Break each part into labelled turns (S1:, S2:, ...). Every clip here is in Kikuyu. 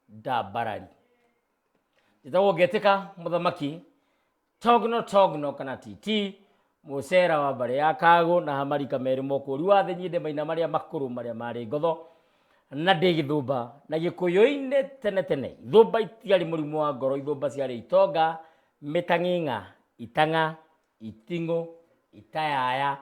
S1: nda mbarari njĩtagwo ngetĩka mũthamaki togno togno kana titi mũcera wa mbarĩ ya kagũ na hamarika merĩ mokũri wa thĩ nyinde maina marĩa makũrũ marĩa marĩ ngotho na ndĩ gĩthũmba na gĩkũyũ-inĩ tene tene ithũmba itiarĩ mũrimũ wa ngoro ithũmba ciarĩ itonga mĩtang'ing'a itang'a iting'ũ itayaya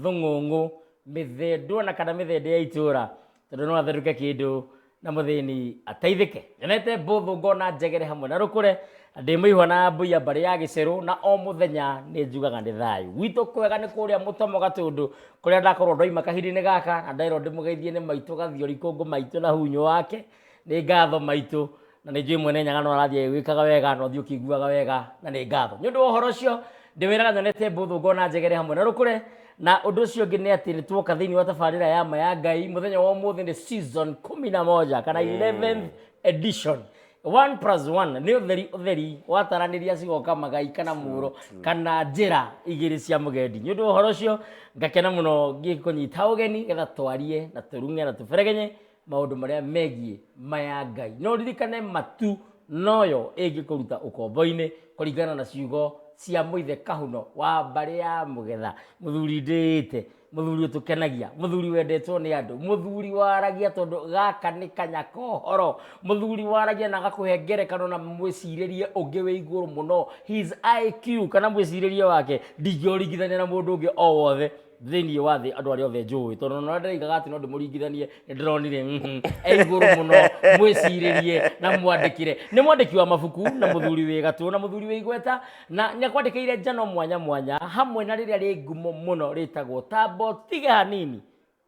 S1: thũng'ũng'ũ mĩthĩndwo na kana mĩthĩndĩ ya itũra tondũ no atherũke kĩndũ na mũthĩni ateithĩke nyonete mbũthũ ngona njegere hamwe na rũkũre ndĩ mũihwa na mbũia mbarĩ ya gĩcerũ na o mũthenya nĩ njugaga nĩ thayũ gwitũ kwega nĩ kũrĩa mũtomo gatũndũ kũrĩa ndakorwo ndoima kahinda-inĩ gaka na nderwo ndĩmũgeithie nĩ maitũ gathiori kũngũ maitũ na hunyo wake nĩ ngatho maitũ na nĩ njũĩ mwene nyaga no arathiĩ agĩgwĩkaga wega na ũthiĩ ũkĩiguaga wega na nĩ ngatho nĩ ũndũ wa ũhoro ũcio ndĩwĩraga nyonete mbũthũ ngona njegere hamwe na rũkũre na ũndũ ũcio ũngĩ nĩ atĩ nĩ tuoka thĩinĩ wa tabarĩra ya ma ya ngai mũthenya wa ũmũthĩ nĩ season kumi na moja kana 11th edition one plus one nĩ ũtheri ũtheri wataranĩria cigoka magai kana mũũro kana njĩra igĩrĩ cia mũgendi nĩ ũndũ wa ũhoro ũcio ngakena mũno ngĩkũnyita ũgeni getha twarie na tũrung'e na tũberegenye maũndũ marĩa megiĩ maya Ngai. No ririkane matu noyo ĩngĩkũruta ũkombo-inĩ kũringana na ciugo cia mũithe kahuno wa mbarĩ ya mũgetha mũthuri ndĩĩte mũthuri ũtũkenagia mũthuri wendetwo nĩ andũ mũthuri waragia tondũ gaka nĩ kanya kohoro mũthuri waragia na agakũhe ngerekano na mwĩcirĩrie ũngĩ wĩ igũrũ mũno his IQ kana mwĩcirĩrie wake ndingĩũringithania na mũndũ ũngĩ o wothe thĩinĩ wa thĩ andũ arĩa othe njũĩ tondũ ona ũrĩa ndĩraigaga atĩ no ndĩmũringithanie nĩ ndĩronire mhm, e igũrũ mũno mwĩcirĩrie na mwandĩkĩre nĩ mwandĩki wa mabuku na mũthuri wĩ gatũ na mũthuri wĩ igweta na nĩ akwandĩkĩire njano mwanya mwanya hamwe na rĩrĩa rĩ ngumo mũno rĩtagwo tambo tiga hanini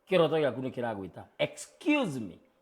S1: kĩroto gĩaku nĩ kĩragwĩta excuse me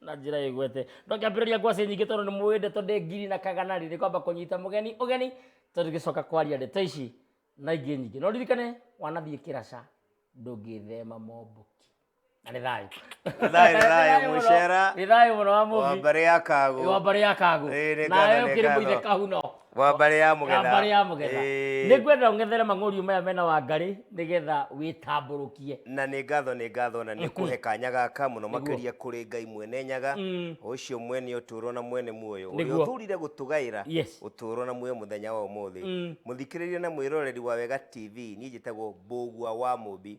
S1: na njira igwete ndokambiriria ngwacĩ nyingĩ tondũ nĩ mũĩ ndeto ndĩ ngiri na kagana rĩ nĩ kwamba kũnyita mũgeni ũgeni tondũ gĩcoka kwaria ndeto ici na ingĩ nyingĩ no ririkane wanathiĩ kĩraca ndũngĩthema momboki na nĩ thayũ Thayũ, thayũ, mũno. mũcera. nĩ thayũ mũno wa mũbi wambarĩ ya kago wambarĩ ya kago Ĩĩ, nĩ ngatho, nawe nĩ ũkĩrĩ mũithe ngatho. kahuno wa mbarĩ ya ya mũgetha mbarĩ ya mũgetha Ĩĩ. nĩ ngwenda ũng'ethere mang'ũriũ maya mena wangarĩ nĩgetha wĩtambũrũkie na nĩ ngatho nĩ ngatho na nĩ kũhe kanya gaka mũno Nĩguo. makĩria kũrĩ ngai mwene nyaga Mm. ũcio mwene ũtũũro na mwene muoyo ũrĩa Nĩguo. ũthurire gũtũgaĩra Yes. ũtũũro na muoyo mũthenya wa ũmũthĩ Mm. mũthikĩrĩria na mwĩroreri wa wega tv niĩ njĩtagwo mbũgua wa mũmbi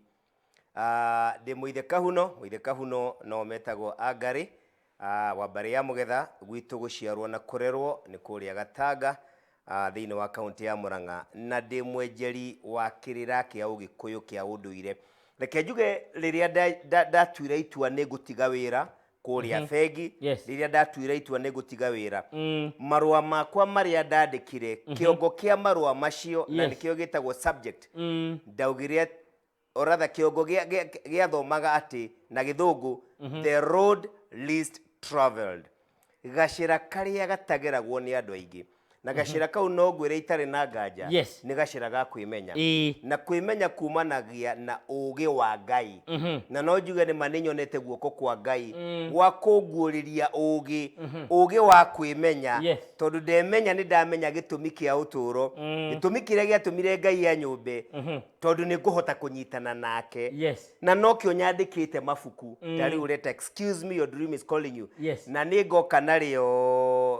S1: Ah, ndĩ mũithe kahuno mũithe kahuno no metagwo angarĩ ah, wa mbarĩ ya mũgetha gwitũ gũciarwo na kũrerwo nĩ kũrĩa gatanga ah, thĩinĩ wa kaunti ya mũrang'a na ndĩ mwenjeri wa kĩrĩra kĩa ũgĩkũyũ kĩa ũndũire reke njuge rĩrĩa nda- nda- ndatuire itua nĩ ngũtiga wĩra kũrĩa Mhm. bengi Yes. rĩrĩa ndatuire itua nĩ ngũtiga wĩra Mm. marũa makwa marĩa ndandĩkire kĩongo kĩa marũa macio na Yes. nĩkĩo gĩtagwo subject Mm. ndaugire at- or rather kĩongo gĩa- gĩa- gĩathomaga atĩ na gĩthũngũ the road least travelled gacĩra karĩa gatageragwo nĩ andũ aingĩ na gacĩra kau no ngwĩre itarĩ na nganja Yes. nĩ gacĩra ga kwĩmenya Ĩĩ. na kwĩmenya kumanagia na ũũgĩ wa ngai na no njuge nĩ ma nĩ nyonete guoko kwa ngai gwa kũnguũrĩria ũũgĩ ũũgĩ wa kwĩmenya Yes. tondũ ndemenya nĩ ndamenya gĩtũmi kĩa ũtũũro gĩtũmi kĩrĩa gĩatũmire ngai ya nyũmbe tondũ nĩ ngũhota kũnyitana nake Yes. na nokĩo nyandĩkĩte mabuku ta rĩu reta excuse me your dream is calling you Yes. na nĩ ngoka narĩo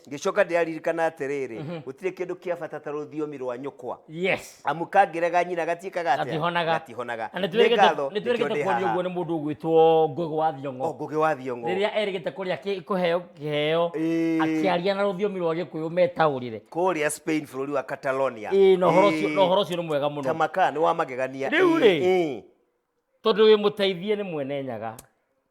S1: ngĩcoka ndĩraririkana atĩrĩrĩ mhm. gũtirĩ kĩndũ kĩa bata ta rũthiomi rwa nyũkwa amu kangĩrega nyina gatiĩkaga atĩatihonaga nĩtwĩrĩgĩte kuonio ũguo nĩ mũndũ ũgwĩtwo ngũgĩ wa thiong'o oh, ngũgĩ wa thiong'o rĩrĩa erĩgĩte kũrĩa kũheo kĩheo akĩaria na rũthiomi rwa gĩkũyũ metaũrĩre kũrĩa spain bũrũri wa catalonia na ũhoro ũcio nĩ mwega mũno tamaka nĩ wa magegania rĩu rĩ tondũ wĩ mũteithie nĩ mwene nyaga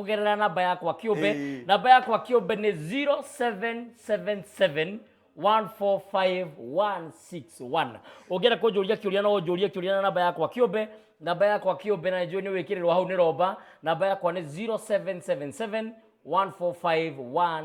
S1: kugerera namba yakwa kiumbe Ĩĩ. namba yakwa kiumbe nĩ 0777 145161 ũngĩenda kũnjũria kĩũria no ũnjũrie kĩũria na namba yakwa kĩũmbe namba yakwa kĩũmbe na njũĩ nĩ wĩkĩrĩrwo hau nĩ romba namba yakwa nĩ 0777 145161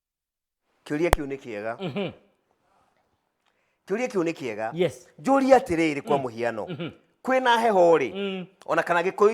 S1: kĩũria kĩu nĩ kĩega kĩũria kĩu nĩ kĩega Mhm. yes njũria atĩrĩrĩ kwa mũhiano kwĩna heho rĩ Mm. ona kana gĩkũyũ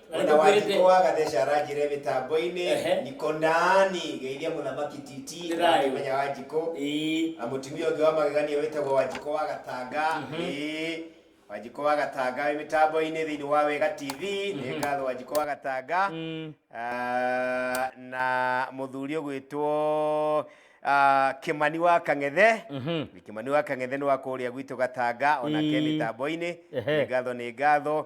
S1: Na ona nĩtũkwĩrĩte- wanjikũ wa gatheca aranjire mĩtambo-inĩ Ehe. niko ndani geithia mũthamaki titi Nĩ thayũ. menya wanjikũ Ĩĩ. na mũtumia ũngĩ wa magegania wĩtagwo wanjikũ wa gatanga Ĩĩ. wanjikũ wa gatanga wĩ mĩtambo-inĩ thĩinĩ wa wega tv nĩ ngatho wanjikũ wa gatanga Mm. Ah, na mũthuri ũgwĩtwo ah, kĩmani wa kang'ethe Mhm. kĩmani wa kang'ethe nĩ wa kũrĩa gwitũ gatanga onake Ĩĩ. mĩtambo-inĩ Ehe. nĩ ngatho nĩ ngatho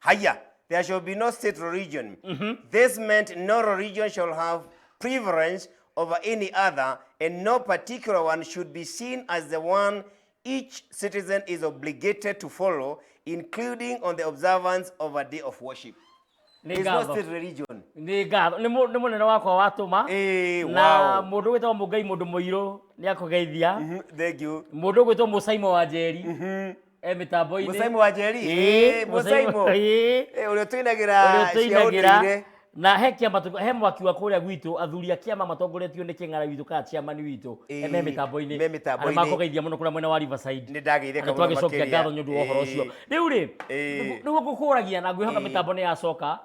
S1: haya there shall be no state or region this meant no religion shall have preference over any other and no particular one should be seen as the one each citizen is obligated to follow including on the observance of a day of worship nĩ It's not ngatho state religion nĩ ngatho nĩ mũ- nĩ mũnene wakwa watũma Eh, na wow. mũndũ gwĩtagwo mũngai mũndũ mũirũ nĩ akũgeithia Mhm, thank you mũndũ gwĩtwo mũcaimo wa njeri e mitambo-inĩ mũcaimu wa njeri Ĩĩ, Ĩĩ, mũcaimu mũcaimu. Ĩĩ. Ĩĩ, ũrĩa tũinagĩra Ũrĩa cia tũinagĩra. ũndũire na he kĩama tũ- he mwaki wa kũrĩa gwitũ athuri a kĩama matongoretio nĩ kĩng'ara witũ kana chairman witũ Ĩĩ, e me mĩtambo-inĩ me mĩtambo-inĩ. Arĩa makũgeithia mũno kũrĩa mwena wa Riverside nĩ ndagĩire na kamũno twagicokia makĩria. ngatho nĩ ũndũ wa ũhoro ũcio Ĩĩ. rĩu rĩ Ĩĩ. nĩguo ngũkũragia na ngwĩhoka Ĩĩ. mĩtambo nĩ yacoka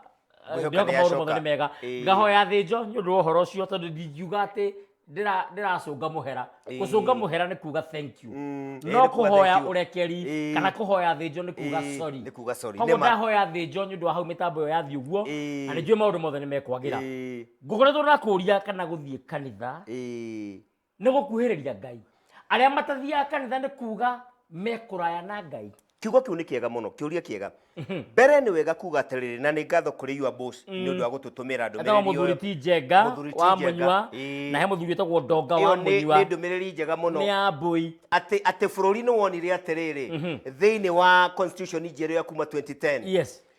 S1: Ngwĩhoka ngwĩhoka nĩ maũndũ yacoka. mothe nĩ mega Ĩĩ. ngahoya thĩnjo nĩ ũndũ wa ũhoro ũcio tondũ ndingiuga atĩ ndĩra- ndĩracũnga mũhera Ĩĩ. gũcũnga mũhera nĩ kuga thank you Mm, ĩĩ, no nĩ kuga kũhoya thank you. ũrekeri Ĩĩ. kana kũhoya thĩnjo nĩ kuga Ĩĩ, sorry nĩ kuga sorry. koguo Nĩ ma- ndahoya thĩnjo nĩ ũndũ wa hau mĩtambo ĩyo yathiĩ ũguo Ĩĩ. na nĩ njũĩ maũndũ mothe nĩ mekwagĩra Ĩĩ, ngũkoretwo ndakũria kana gũthiĩ kanitha ĩĩ. nĩ gũkuhĩrĩria ngai arĩa matathiaga kanitha nĩ kuga mekũraya na ngai kiugo kĩu nĩ kĩega mũno kĩũria kĩega mbere nĩ wega kuga atĩrĩrĩ na nĩ ngatho kũrĩ your boss nĩ ũndũ wa gũtũtũmĩra Etawa ndũmĩrĩri mũthuri ũyũ ti njenga Mũthuri ti wa Njenga, mũnyua ĩĩ. na he mũthuri wĩtagwo ndonga wa ĩyo nĩ mũnyua nĩ ndũmĩrĩri njega mũno nĩ ya mbũi atĩ atĩ bũrũri nĩ wonire atĩrĩrĩ thĩinĩ wa constitution njerũ ya kuma 2010 yes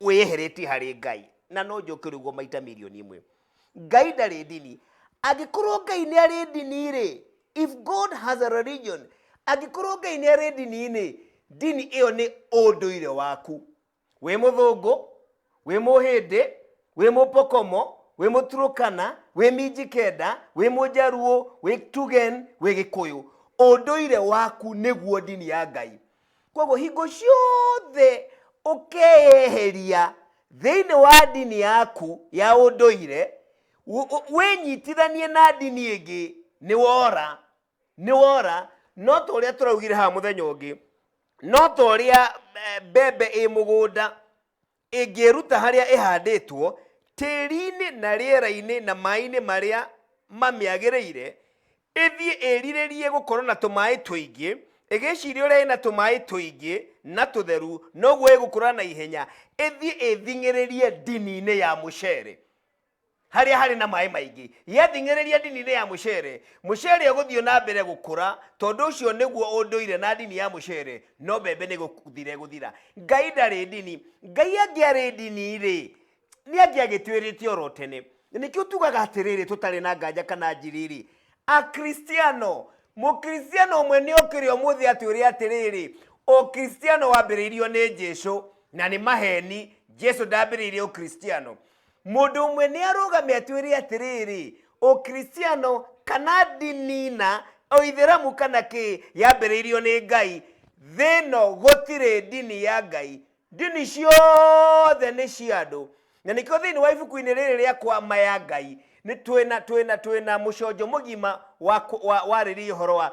S1: wĩyeheretie harĩ ngai na no njoke rĩguo maita mirioni imwe ngai ndarĩ ndini angĩkorwo ngai nĩ arĩ ndini-rĩ if god has a religion angĩkorwo ngai nĩ arĩ ndini-inĩ ndini ĩyo nĩ ũndũire waku wĩ mũthũngũ wĩ mũhĩndĩ wĩ mũpokomo wĩ mũturũkana wĩ minjikenda wĩ mũjaruo wĩ tugen wĩ gĩkũyũ ũndũire waku nĩguo ndini ya ngai koguo hingo ciothe ũkeyeheria thĩinĩ wa ndini yaku ya ũndũire wũ- wũ- wĩnyitithanie na ndini ĩngĩ nĩ wora nĩ wora no ta ũrĩa tũraugire haha mũthenya ũngĩ no ta ũrĩa eh, mbembe ĩ mũgũnda Ĩngĩĩruta harĩa ĩhandĩtwo, tĩĩri-inĩ na rĩera-inĩ na maĩ-inĩ marĩa mamĩagĩrĩire, ĩthiĩ ĩrirĩrie gũkorwo na tũmaĩ tũingĩ, ĩgĩciria ũrĩa ĩna tũmaĩ tũingĩ na tũtheru noguo ĩgũkũra na ihenya, ĩthiĩ ĩthing'ĩrĩrie ndini-inĩ ya mũcere. harĩa harĩ na maĩ maingĩ gĩathing'ĩrĩria ndini-inĩ ya mũcere mũcere ũgũthiĩ na mbere gũkũra tondũ ũcio nĩguo ũndũire na ndini ya mũcere no mbembe nĩ gũthire gũthira ngai ndarĩ ndini ngai angĩarĩ ndini rĩ nĩ angĩagĩtwĩrĩte oro tene nĩkĩo tugaga atĩrĩrĩ tũtarĩ na nganja kana njirĩrĩ akristiano mũkristiano ũmwe nĩ okĩre ũmũthĩ atwĩre atĩrĩrĩ ũkristiano wambĩrĩirio nĩ jesu na nĩ maheni jesu ndambĩrĩirie ũkristiano Mũndũ ũmwe nĩ arũgame atwĩre atĩrĩrĩ, Ũkristiano kana ndini na Ũithĩramu kana kĩ yambĩrĩirio nĩ Ngai. Thĩ ĩno gũtirĩ ndini ya Ngai. Ndini ciothe nĩ cia andũ. Na nĩkĩo thĩinĩ wa ibuku-inĩ rĩrĩ rĩa kwa ma ya Ngai nĩ twĩna twĩna twĩna mũconjo mũgima warĩrĩria ũhoro wa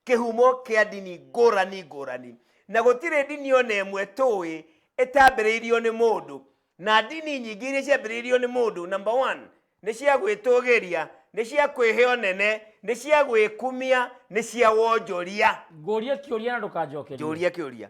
S1: kĩhumo kĩa ndini ngũrani ngũrani. Na gũtirĩ ndini ona ĩmwe tũĩ ĩtambĩrĩirio nĩ mũndũ. na ndini nyingĩ iria ciambĩrĩirio nĩ mũndũ number one nĩ cia gwĩtũgĩria nĩ cia kwĩhe ũnene nĩ cia gwĩkumia nĩ cia wonjoria ngũrie kĩũria na ndũkanjokerie njũria kĩũria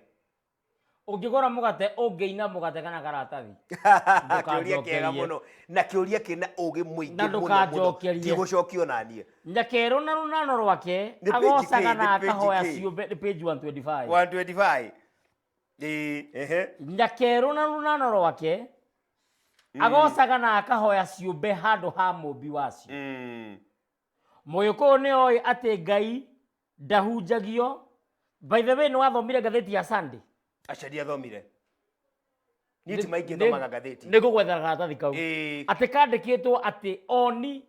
S1: ũngĩgũra mũgate ũngĩina mũgate kana karatathi kĩũria kĩega Ndũkanjokerie. mũno na kĩũria kĩna ũgĩ mũingĩ Na mũno mũno ndũkanjokerie. tigũcokio na niĩ nyakerwo na rũnano rwake Nĩ page agocaga kĩ? na Nĩ page akahoya kĩ? ciũmbe nĩ page 125 125 Ĩĩ, ehe. nginya kerũ na rũnana rwake agocaga na akahoya ciũmbe handũ ha mũmbi wacio Mm. mũgĩkũyũ nĩ oĩ atĩ ngai ndahunjagio by the way nĩ wathomire ngathĩti ya sunday Aca ndiathomire. Niĩ ti maingĩ thomaga ngathĩti. nĩ ngũgwethera karatathi kau Ĩĩ. atĩ kandĩkĩtwo atĩ oni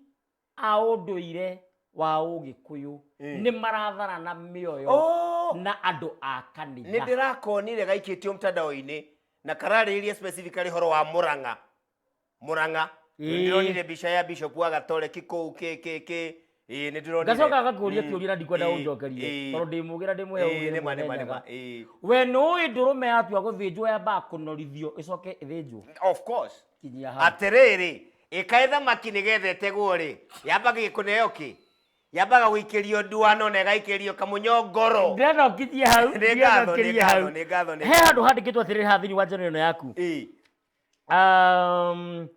S1: a ũndũire wa ũgĩkũyũ Mm. nĩ maratharana mĩoyo Oh, na andũ a nä kanitha ndä rakonire gaikä tio mtandao-inä na kararä ria specifically horo wa må ranga må ranga Ĩĩ. nä ndä ronire mbica ya bishop wa gatoreki kå u kä kä kä nä ndä ronire ngacoka agakũria kĩũria na ndikwenda Ĩĩ, ũnjokerie ĩĩ. tondũ ndĩ mũgĩra ndĩ mwĩhe Ĩĩ, nĩ ma, nĩ ma, nĩ ma, ũgĩra ĩĩ. we nũĩ ndũrũme yatua gũthĩnjwo yambaga kũnorithio ĩcoke ĩthĩnjwo Of course. kinyia hau atä rä rä Ĩkaĩ thamaki nĩgetha ĩtegwo-rĩ, yambaga kũneo kĩ? Yambaga gũikĩrio nduano na ĩgaikĩrio kamũnyo ngoro. Ndĩracokithia hau, Nĩ ngatho, nĩ ndĩracokithia hau. ngatho, nĩ ngatho, nĩ He ngatho. handũ handĩkĩtwo atĩrĩrĩ haha thĩinĩ wa njono ĩno yaku. Ĩ, Um,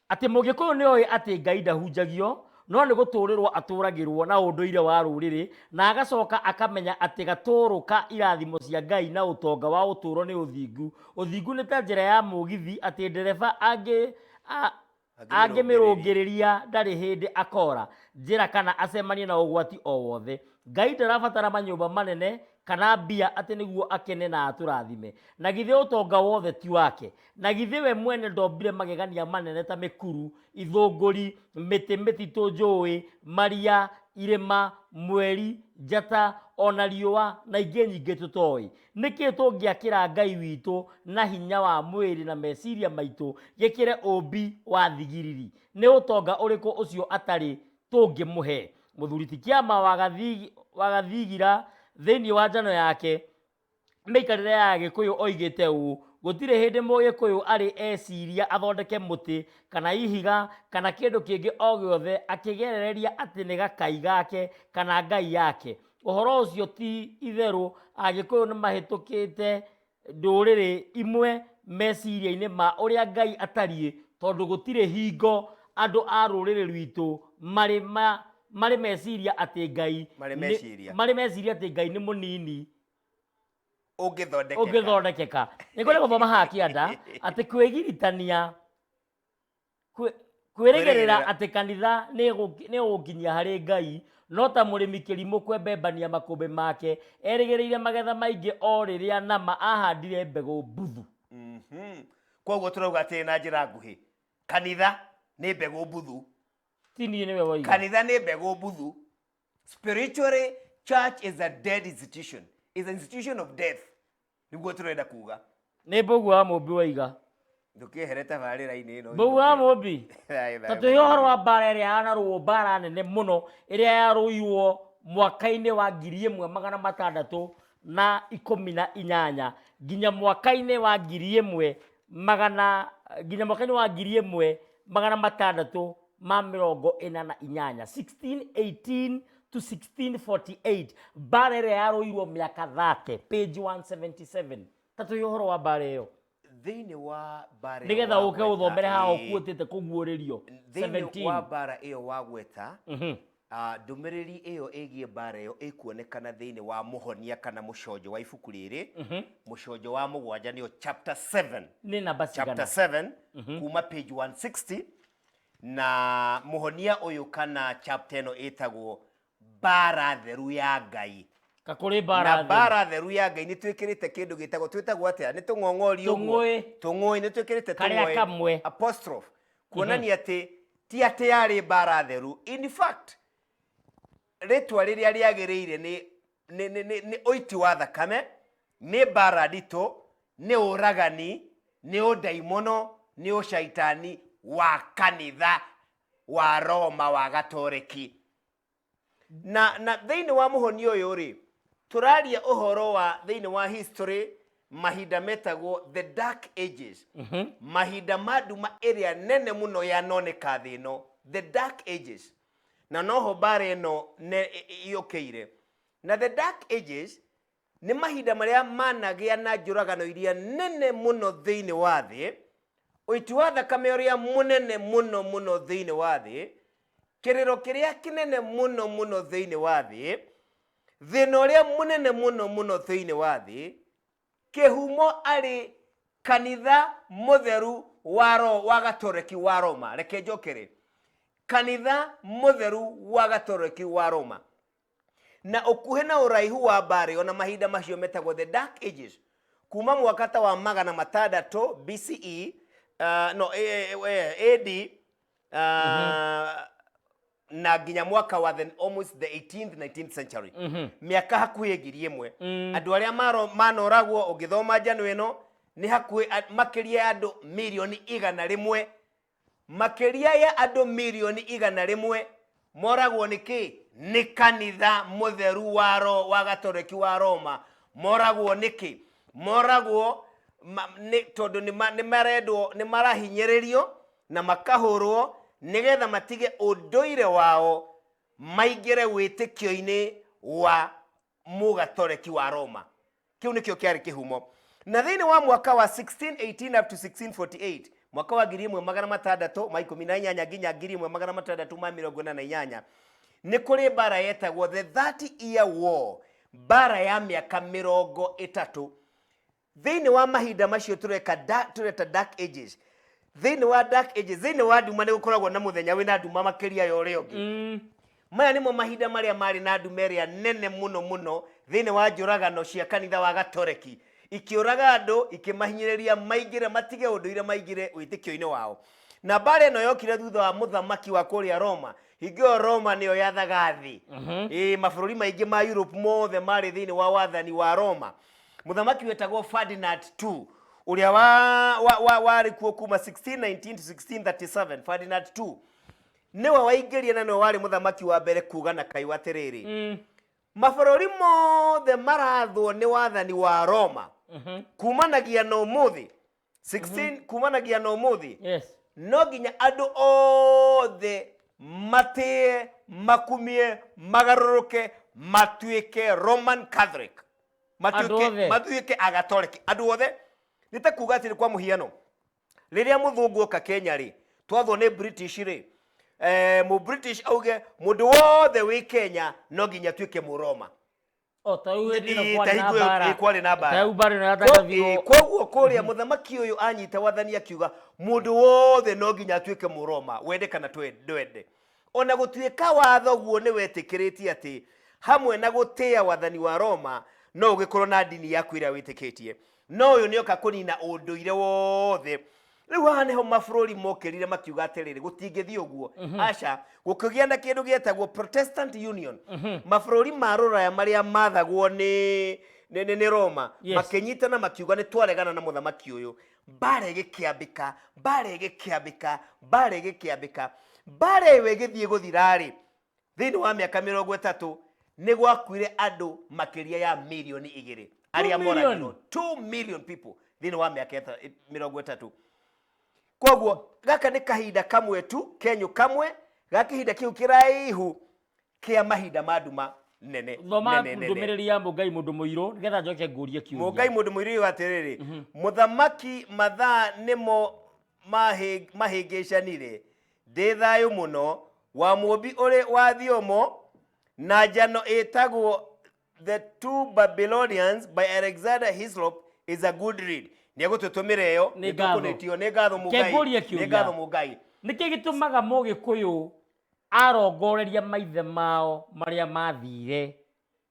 S1: atĩ mũgĩkũyũ nĩ oĩ atĩ Ngai ndahunjagio no nĩ gũtũũrĩrwo atũũragĩrwo na ũndũire wa rũrĩrĩ na agacoka akamenya atĩ gatũũrũ ka irathimo cia Ngai na ũtonga wa ũtũũro nĩ ũthingu. Ũthingu nĩ ta njĩra ya mũgithi atĩ ndereba angĩ, a, angĩmĩrũngĩrĩria ndarĩ hĩndĩ akora njĩra kana acemanie na ũgwati o wothe. Ngai ndarabatara manyũmba manene kana mbia atĩ nĩguo akene na atũrathime. Na githĩ ũtonga wothe ti wake? Na githĩ we mwene ndombire magegania manene ta mĩkuru, ithũngũri, mĩtĩ mĩtitũ, njũũĩ, maria, irĩma, mweri, njata, o na riũa, na ingĩ nyingĩ tũtoĩ? Nĩ kĩĩ tũngĩakĩra Ngai witũ na hinya wa mwĩrĩ na meciria maitũ gĩkĩre ũũmbi wa thigiriri? Nĩ ũtonga ũrĩkũ ũcio atarĩ tũngĩmũhe? Mũthuri ti kĩama wa Gathigira thĩinĩ wa njano yake, Mĩikarĩre ya Agĩkũyũ oigĩte ũũ, Gũtirĩ hĩndĩ Mũgĩkũyũ arĩ eciria athondeke mũtĩ, kana ihiga, kana kĩndũ kĩngĩ o gĩothe akĩgerereria atĩ nĩ gakai gake kana ngai yake. Ũhoro ũcio ti itherũ, Agĩkũyũ nĩ mahĩtũkĩte ndũrĩrĩ imwe meciria-inĩ ma ũrĩa Ngai atariĩ, tondũ gũtirĩ hingo andũ a rũrĩrĩ rwitũ marĩ ma marĩ meciria atĩ ngai Marĩ nĩ- meciria. marĩ meciria atĩ ngai nĩ mũnini ũngĩthondekeka ũngĩthondekeka nĩ kũrĩ gũthoma haha kĩanda atĩ kwĩgiritania kwĩ- kwĩrĩgĩrĩra Kwĩrĩgĩrĩra. atĩ kanitha nĩ ĩgũ- nĩ ũgũkinyia harĩ ngai no ta mũrĩmi kĩrimũ kwembembania makũmbĩ make erĩgĩrĩire magetha maingĩ o rĩrĩa nama ahandire mbegũ mbuthu Mhm. koguo tũrauga atĩ na njĩra nguhĩ kanitha nĩ mbegũ mbuthu ti niĩ nĩwe waiga kanitha nĩ mbegũ mbuthu spiritually church is a dead institution is an institution of death nĩguo tũrenda kuga nĩ mbũgu wa mũmbi waiga ndũkĩehere tabarĩra-inĩ ĩno mbũgu wa mũmbi ta tũhe ũhoro wa mbara ĩrĩa yanarũo mbara nene mũno ĩrĩa yarũirwo mwaka-inĩ wa ngiri ĩmwe magana matandatũ na ikũmi na inyanya nginya mwaka-inĩ wa ngiri ĩmwe magana nginya mwaka-inĩ wa ngiri ĩmwe magana matandatũ ma mĩrongo ĩna na inyanya 1618 to 1648 mbara ĩrĩa yarũirwo mĩaka 30 page 177 tatũ ĩ ũhoro wa mbara ĩyo thĩinĩ wa mbara ĩyo nĩgetha ũke wagweta, ũthomere haha ĩĩ, ũkuotĩte kũguũrĩrio thĩinĩ wa 17 mbara ĩyo wagweta Mhm. A Ndũmĩrĩri ĩyo ĩgiĩ mbaara ĩyo ĩkuonekana thĩinĩ wa mũhonia kana mũconjo wa ibuku rĩrĩ, mũconjo wa mũgwanja, nĩyo chapter 7, nĩ namba chapter cigana 7 kuma page 160 na mũhonia ũyũ kana chapter ĩno ĩtagwo mbaara theru ya ngai ka kũrĩ na mbaara thĩ mbaara theru ya ngai nĩ twĩkĩrĩte kĩndũ gĩtagwo twĩtagwo atĩa nĩ tũng'ong'ori ũguo? Tũng'ũĩ. tũng'ũĩ nĩ twĩkĩrĩte Karĩa tũng'ũĩ. kamwe. apostrophe kuonania atĩ ti atĩ yarĩ mbara theru in fact rĩtwa rĩrĩa rĩagĩrĩire nĩ nĩ- nĩ- nĩ- nĩ ũiti wa thakame nĩ mbara nditũ nĩ ũragani nĩ ũndaimono nĩ ũcaitani wa kanitha wa roma wa gatoreki na na thĩinĩ wa mũhoni ũyũ rĩ tũraria ũhoro wa thĩinĩ wa history mahinda metagwo the dark ages mahinda ma nduma ĩrĩa nene mũno yanoneka thĩ ĩno the dark ages na noho mbara ĩno ne- ĩ- ĩ- yũkĩire na the dark ages nĩ mahinda marĩa managĩa na njũragano iria nene mũno thĩinĩ wa thĩ ũiti wa thakame ũrĩa mũnene mũno mũno thĩinĩ wa thĩ kĩrĩro kĩrĩa kĩnene mũno mũno thĩinĩ wa thĩ thĩna ũrĩa mũnene mũno mũno thĩinĩ wa thĩ kĩhumo arĩ kanitha mũtheru wa ro wa gatoreki wa roma reke njokere kanitha mũtheru wa gatoreki wa roma na ũkuhĩ na ũraihu wa mbarĩ ona mahinda macio metagwo the dark ages kuma mwaka ta wa magana matandatũ bce uh, no eh, eh, eh, ad uh, na nginya mwaka wa the, almost the 18th 19th century mĩaka hakuhĩ ngiri ĩmwe andũ arĩa maro- manoragwo ũngĩthoma njano ĩno nĩ hakuhĩ a- makĩria ya andũ mirioni igana rĩmwe Makĩria ya andũ mirioni igana rĩmwe moragwo nĩ kĩ? Nĩ kanitha mũtheru wa ro wa gatoreki wa Roma. Moragwo nĩ kĩ? Moragwo ma, nĩ, tondũ nĩ, ma, nĩ marendwo nĩ marahinyĩrĩrio na makahũrwo nĩgetha matige ũndũire wao maingĩre wĩtĩkio-inĩ wa mũgatoreki wa roma kĩu nĩkĩo kĩarĩ kĩhumo na thĩinĩ wa mwaka wa 1618 up to 1648 mwaka wa ngiri ĩmwe magana matandatũ ma ikũmi na inyanya nginya ngiri ĩmwe magana matandatũ ma mĩrongo ĩna na inyanya nĩ kũrĩ mbara yetagwo the 30 year war mbara ya mĩaka mĩrongo ĩtatũ thĩinĩ wa mahinda macio tũreka da- tũreta dark ages thĩinĩ wa dark ages thĩinĩ wa nduma nĩ gũkoragwo na mũthenya wĩna nduma makĩria ya ũrĩa ũngĩ Mm. maya nĩmo mahinda marĩa marĩ na nduma ĩrĩa nene mũno mũno thĩinĩ wa njũragano cia kanitha wa gatoreki ikĩũraga andũ ikĩmahinyĩrĩria maingĩre matige ũndũire maingĩre wĩtĩkio-inĩ wao na mbaara ĩno yokire thutha wa mũthamaki wa kũrĩa roma hingo ĩyo roma nĩyo yathaga thĩ ĩĩ mabũrũri maingĩ ma europe mothe marĩ thĩinĩ wa wathani wa roma mũthamaki wetagwo ferdinand ii ũrĩa wa, wa, wa, warĩ kuo kuma 1619 to 1637 ferdinand ii nĩwe waingĩria na nĩwe warĩ mũthamaki wa mbere kuga na kaiwa atĩrĩrĩ mm. mabũrũri mothe marathwo nĩ wathani wa roma kumanagia na ũmũthĩ 16 kumanagia na umuthi yes no nginya andu othe matie makumie magaruruke matuike roman catholic Andũ matuike othe. matuike agatoreki andu othe nĩ ta kuga atĩrĩ kwa mũhiano rĩrĩa mũthũngũ oka kenya rĩ twathwo nĩ british rĩ eh, mũ british auge mũndũ wothe wĩ kenya no nginya tuĩke mũroma O, ta rĩu hĩndĩ ĩno kwarĩ na mbara. kwarĩ na mbara Ta rĩu mbara ĩno yatangabirwo. koguo kũrĩa mũthamaki ũyũ anyita wathani akiuga mũndũ wothe no nginya atuĩke mũroma wende kana twe- ndwende ona gũtuĩka watho guo nĩ wetĩkĩrĩtie atĩ hamwe na gũtĩa wathani wa roma no ũgĩkorwo na ndini yaku ĩrĩa wĩtĩkĩtie no ũyũ nĩoka kũnina ũndũire wothe rĩu haha nĩho mabũrũri mokĩrire makiuga atĩrĩrĩ gũtingĩthiĩ ũguo mhm. aca gũkĩgĩa na kĩndũ gĩetagwo protestant union mhm. mabũrũri ma rũraya marĩa mathagwo nĩ nĩ roma makĩnyitana makiuga nĩ twaregana na mũthamaki ũyũ mbara ĩgĩkĩambĩka mbara ĩgĩkĩambĩka mbara ĩgĩkĩambĩka mbara ĩyo ĩgĩthiĩ gũthirarĩ thĩinĩ wa mĩaka mĩrongo ĩtatũ nĩ gwakuire andũ makĩria ya milioni igĩrĩ arĩa million? moragirwo 2 million people thĩinĩ wa mĩaka ĩta- ĩ- mĩrongo ĩtatũ kwoguo gaka nĩ kahinda kamwe tu kenyũ kamwe ga kĩhinda kĩu kĩraihu kĩa mahinda ma nduma nene thoma nene, nene. ndũmĩrĩri ya mũngai mũndũ mũirũ nĩgetha njoke ngũrie kiũria mũngai mũndũ mũirũ yũ atĩrĩrĩ mũthamaki mathaa nĩmo mahĩ- mahĩngĩcanire Ndĩ thayũ mũno, wa mũũmbi ũrĩ wa thiomo na njano ĩtagwo The Two Babylonians by Alexander Hislop is a good read. Nĩ egũtũtũmĩra ĩyo, Nĩ nĩ ngatho. tũkũnĩtio, nĩ ngatho mũgai, Kengũrie kĩũria. nĩ ngatho mũgai. nĩkĩ gĩtũmaga mũgĩkũyũ arongoreria maithe mao marĩa mathire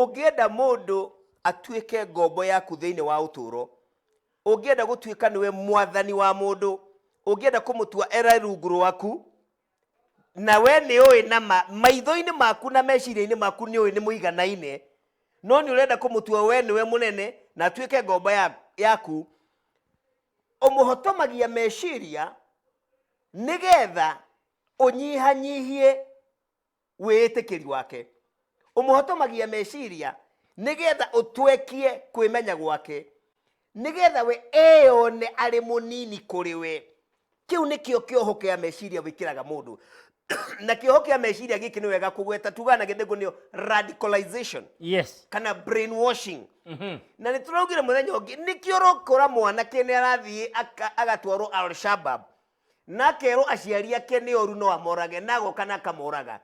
S1: Ũngĩenda mũndũ atuĩke ngombo yaku thĩinĩ wa ũtũũro, ũngĩenda gũtuĩka nĩwe mwathani wa mũndũ, ũngĩenda kũmũtua era rungu rwaku, na we nĩ ũĩ na ma, maitho-inĩ maku na meciria-inĩ maku nĩ ũĩ nĩ mũiganaine, no nĩ ũrenda kũmũtua we nĩwe mũnene na atuĩke ngombo ya, yaku, ũmũhotomagia meciria nĩgetha ũnyihanyihie wĩĩtĩkĩri wake. Ũmũhotomagia meciria nĩ getha ũtwekie kwĩmenya gwake, nĩ getha we eyone arĩ mũnini kũrĩ we. Kĩu nĩkĩo kĩoho kĩa meciria wĩkĩraga mũndũ. na kĩoho kĩa meciria gĩkĩ nĩ wega kũgweta tugaga na gĩthĩngũ nĩyo radicalization yes kana brainwashing Mhm. na nĩ tũraugire mũthenya ũngĩ nĩkĩo ũrokora mwanake nĩ arathiĩ aka- agatwarwo alshabab na akerwo aciari ake nĩ oru no amorage na agoka na akamoraga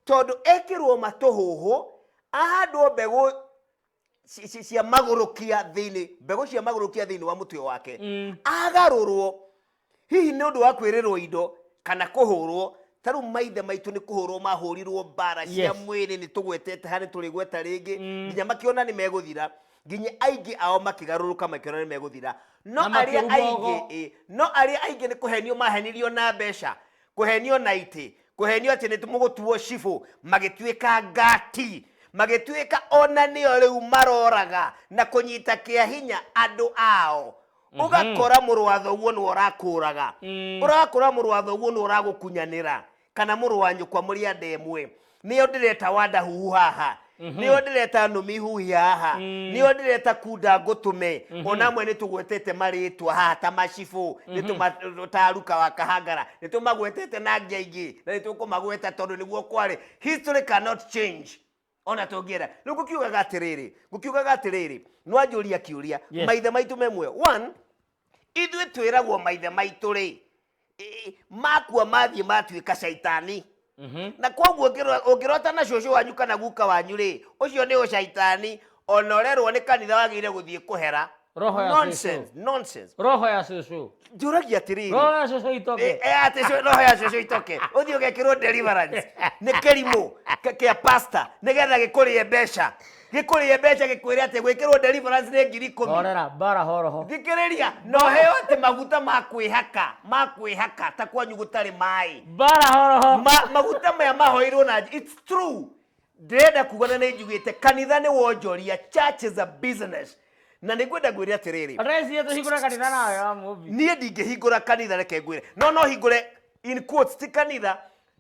S1: tondũ ekĩrwo matũhũhũ ahandwo mbegũ ci- ci- cia magũrũkia thĩinĩ mbegũ cia magũrũkia thĩinĩ wa mũtwe wake agarũrwo hihi nĩ ũndũ wa kwĩrĩrwo indo kana kũhũrwo ta rĩu maithe maitũ nĩ kũhũrwo mahũrirwo mbara cia Yes. mwĩrĩ nĩ tũgwetete harĩ tũrĩgweta rĩngĩ nginya makĩona nĩ megũthira nginya aingĩ ao makĩgarũrũka makĩona nĩ megũthira no Na arĩa makĩruma aingĩ ũgo. ĩ, no arĩa aingĩ nĩ kũhenio mahenirio na mbeca kũhenio na itĩ kũhenio atĩ nĩ mũgũtuo cibũ magĩtuĩka ngati magĩtuĩka ona nĩo rĩu maroraga na kũnyita kĩa hinya andũ ao ũgakora mũrũ wa thoguo nĩ ũrakũraga ũrakora mũrũ wa thoguo nĩ ũragũkunyanĩra kana mũrũ wa nyũkwa mũrĩ anda ĩmwe nĩyo ndĩreta wanda huhu haha nĩyo ndĩreta nũmi huhi haha nĩyo ndĩreta kunda ngũtũme ona amwe nĩtũgwetete marĩtwa haha ta macibũ nĩtũma- ta aruka wa kahangara nĩtũmagwetete na angĩ aingĩ na nĩtũkũmagweta tondũ nĩguo kwarĩ history cannot change ona tũngĩenda rĩu ngũkiugaga atĩrĩrĩ ngũkiugaga atĩrĩrĩ nwanjũria kĩũria Yeah. maithe maitũ me muoyo one ithuĩ twĩragwo maithe maitũ rĩ ĩ- makua mathiĩ matuĩka caitani Mhm. na koguo ũngĩro- ũngĩrota na cũcũ wanyu kana guka wanyu rĩ ũcio nĩ ũcaitani ona ũrerwo nĩ kanitha wagĩrĩire gũthiĩ kũhera Roho ya nonsense Yesu. nonsense Roho ya Yesu. njũragia atĩrĩrĩ Roho ya Yesu itoke. Eh, eh, atĩ cũ- roho ya cũcũ itoke ũthiĩ ũgekĩrwo deliverance nĩ kĩrimũ k- kĩa pasta nĩgetha gĩkũrĩe mbeca gĩkũrĩe mbeca gĩkwĩre atĩ gwĩkĩrwo deliverance nĩ ngiri ikũmi Horera bara horoho. thikĩrĩria no heo atĩ maguta ma kwĩhaka ma kwĩhaka ta kwanyu gũtarĩ maĩ Bara horoho. Ma- maguta maya mahoirwo na it's true ndĩrenda kuga na nĩ njugĩte kanitha nĩ wonjoria church is a business na nĩ ngwenda ngwĩre atĩrĩrĩ Raicie tũhingũre kanitha nawe ya mũmbi. niĩ ndingĩhingũra kanitha reke ngwĩre no no hingũre in quotes ti kanitha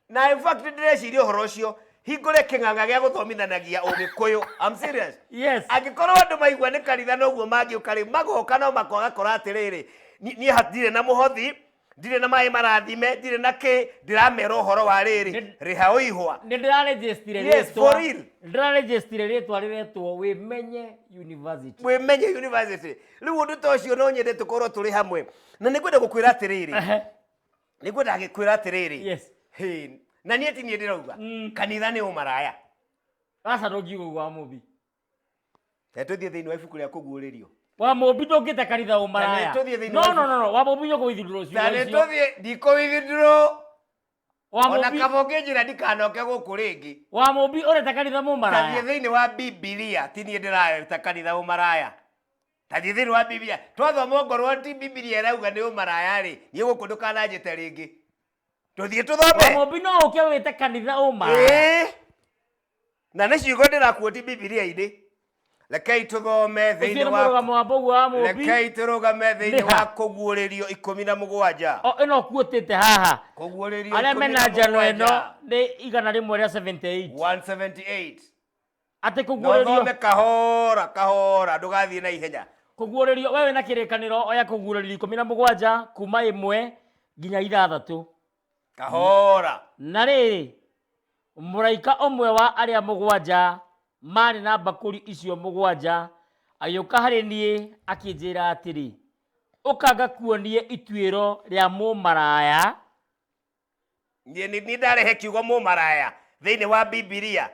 S1: na in fact ndĩreciria ũhoro ũcio hingũre kĩng'ang'a gĩa gũthomithanagia ũgĩkũyũ I'm serious Yes. angĩkorwo andũ maigua nĩ kanitha noguo mangĩũka rĩ magoka no makwaga kora atĩrĩrĩ ni- niĩ hatirĩ na mũhothi ndirĩ na maĩ marathime ndirĩ na kĩ ndĩramera ũhoro wa rĩrĩ Nĩ- rĩha ũihwa nä ndä rarejestire Yes, for real. ndä rarejestire rä twa rä retwo wä menye university mwĩmenye university rĩu ũndũ ta ũcio no nyende tũkorwo tũrĩ hamwe na nĩ kwenda gũkwĩra atĩrĩrĩ Ehe. nĩ kwenda gĩkwĩra atĩrĩrĩ Yes. Hey, na niĩ ti niĩ ndĩrauga Mm. kanitha nĩ ũmaraya aca ndå ngiuga wa må bi Reke tũthiĩ thĩinĩ wa ibuku rĩa kũguũrĩrio. wa mũmbi ndũngĩte karitha Na ũmaraya nĩtũthiĩ thĩinĩ no wa no no no wa mũmbi nyũkũ ithindũrwo ciugo Na nĩ icio tũthiĩ ndikũithindũrwo wa ona mũmbi kaba ũngĩnjĩra ndikanoke gũkũ rĩngĩ. wa mũmbi ũreta karitha Tathiĩ mũmaraya thĩinĩ wa Bibilia, ti niĩ ndĩrareta kanitha ũmaraya. Tathiĩ thĩinĩ wa Bibilia. Twathoma ongorwo ti Bibilia ĩrauga nĩ ũmaraya-rĩ, niĩ gũkũ ndũkananjĩte rĩngĩ. tũthiĩ tũthome wamũmbi no ũke wĩte kanitha ũma Ĩĩ. na nĩ ciugo ndĩrakuoti bibilia-inĩ rekei tũthome thĩinĩ ũthiĩ nĩ wa mũrũgamo wa mbũguo wa mũmbi rekei tũrũgame thĩinĩ Nĩha? wa kũguũrĩrio ikũmi na mũgwanja O, ĩno kuotĩte haha kũguũrĩrio arĩa ikũmi mena na njano ĩno mũgwanja nĩ igana rĩmwe rĩa 78 178 atĩ kũguũrĩrio nothome kahora kahora ndũgathiĩ na ihenya kũguũrĩrio we wĩna kĩrĩkanĩro oya kũguũrĩrio ikũmi na mũgwanja kuma ĩmwe nginya ithathatũ kahora na rĩrĩ mũraika ũmwe wa arĩa mũgwanja maarĩ na mbakũri icio mũgwanja agĩũka harĩ niĩ akĩnjĩra atĩrĩ ũka ngakuonie ituĩro rĩa mũmaraya niĩ nĩ niĩ ndarehe kiugo mũmaraya thĩinĩ wa bibilia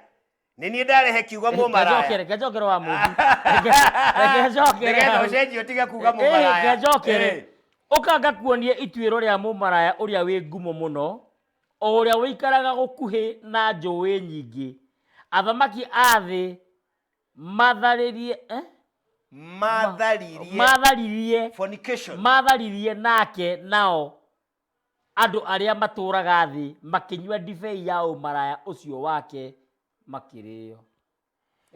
S1: nĩ niĩ ndarehe kiugo mũmaraya Ngejokere, ngejokere wa mũndũ. Nĩgetha Ngejokere. ũcenjie ũtige kuuga mũmaraya Eh. Ngejokere. Ũka ngakuonie ituĩro rĩa mũmaraya ũrĩa wĩ ngumo mũno, o ũrĩa ũikaraga gũkuhĩ na njũĩ nyingĩ. Athamaki a thĩ matharĩrie eh? matharirie matharirie fornication matharirie nake nao Andũ arĩa matũũraga thĩ makĩnyua ndibei ya ũmaraya ũcio wake makĩrĩĩo.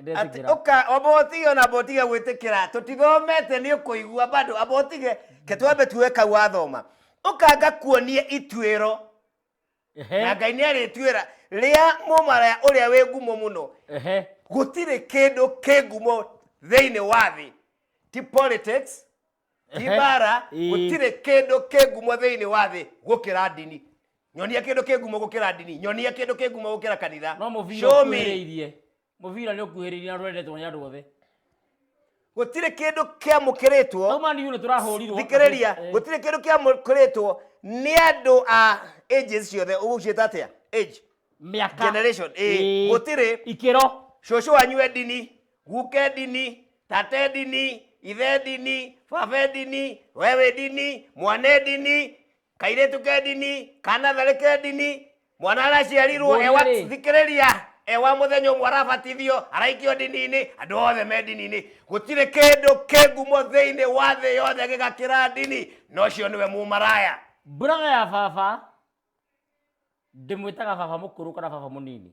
S1: Nĩ Atĩ ndetĩkĩra. ũka amba ũtige ona amba ũtige gwĩtĩkĩra tũtithomete nĩ ũkũigua bado amba ũtige ke twambe tuoe kau wathoma ũka ngakuonie ituĩro Ehe, na ngai nĩ arĩtuĩra rĩa mũmaraya ũrĩa wĩ ngumo mũno ehe. gũtirĩ kĩndũ kĩ ngumo thĩinĩ wa thĩ ti politics ti mbara gũtirĩ kĩndũ kĩ ngumo thĩinĩ wa thĩ gũkĩra ndini nyonia kĩndũ kĩ ngumo gũkĩra ndini nyonia kĩndũ kĩ ngumo gũkĩra kanitha no mũbira Show me. ũkuhĩrĩirie mũbira nĩ ũkuhĩrĩirie na rwendetwo nĩ andũ othe gũtirĩ kĩndũ kĩamũkĩrĩtwo au mani nĩ tũrahũrirwo thikĩrĩria Eh, gũtirĩ kĩndũ kĩamũkĩrĩtwo nĩ andũ a ages ciothe ũgũciĩta atĩa age mĩaka generation, eh, Ĩĩ. gũtirĩ. ikĩro cũcũ wanyu e ndini Guka edini, tata edini, ithe edini, baba edini, wewe edini, mwana edini, kairĩtu ka edini, kana tharĩ ka edini, mwana araciarirwo Nguonia ewa rĩ? thikĩrĩria ewa mũthenya ũmwe arabatithio araikio ndini-inĩ andũ othe me ndini-inĩ gũtirĩ kĩndũ kĩ ngumo thĩinĩ wa thĩ yothe gĩgakĩra ndini na ũcio nĩwe mũmaraya Brother ya baba ndĩmwĩtaga baba mũkũrũ kana baba mũnini.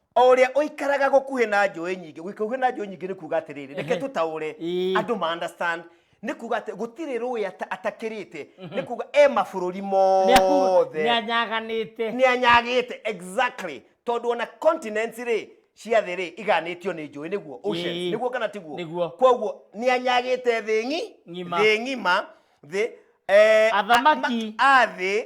S1: o ũrĩa ũikaraga gũkuhĩ na njũĩ nyingĩ gũkuhĩ na njũĩ nyingĩ nĩ kuga atĩrĩrĩ reke tũtaũre Ĩĩ. andũ ma understand nĩ kuga atĩ gũtirĩ rũĩ ata- atakĩrĩte nĩ kuga e mabũrũri mothe nĩanyaganĩte nĩ anyagĩte exactly tondũ ona continents rĩ cia thĩ rĩ iganĩtio nĩ njũĩ nĩguo oceans Ĩĩ. nĩguo kana tiguo Nĩguo. kwoguo nĩ anyagĩte thĩ ng'i Ng'ima. thĩ ng'ima thĩ eh, Athamaki. a- ma- a thĩ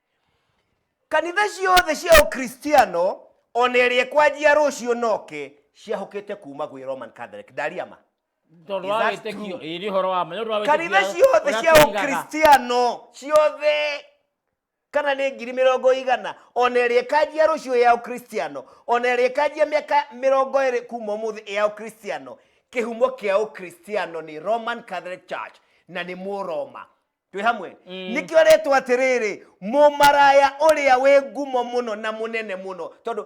S1: kanitha ciothe cia ũkristiano ona ĩrĩa kwanjia rũciũ noke ciahũkĩte kuma gwĩ roman catholic ndaria ma tondũ Is wa that wĩtĩkio true? ĩĩ nĩ ũhoro wa ma nĩ ũndũ wa kanitha wĩtĩkio ciothe ũrĩa cia tũigaga. ũkristiano ciothe kana nĩ ngiri mĩrongo igana ona ĩrĩa ĩkanjia rũciũ ya ũkristiano ona ĩrĩa ĩkanjia mĩaka mĩrongo ĩrĩ kuma ũmũthĩ ya ũkristiano kĩhumo kĩa ũkristiano nĩ roman catholic church na nĩ mũroma twĩ hamwe Mm. nĩkĩo rĩtwa atĩrĩrĩ mũmaraya ũrĩa wĩ ngumo mũno na mũnene mũno tondũ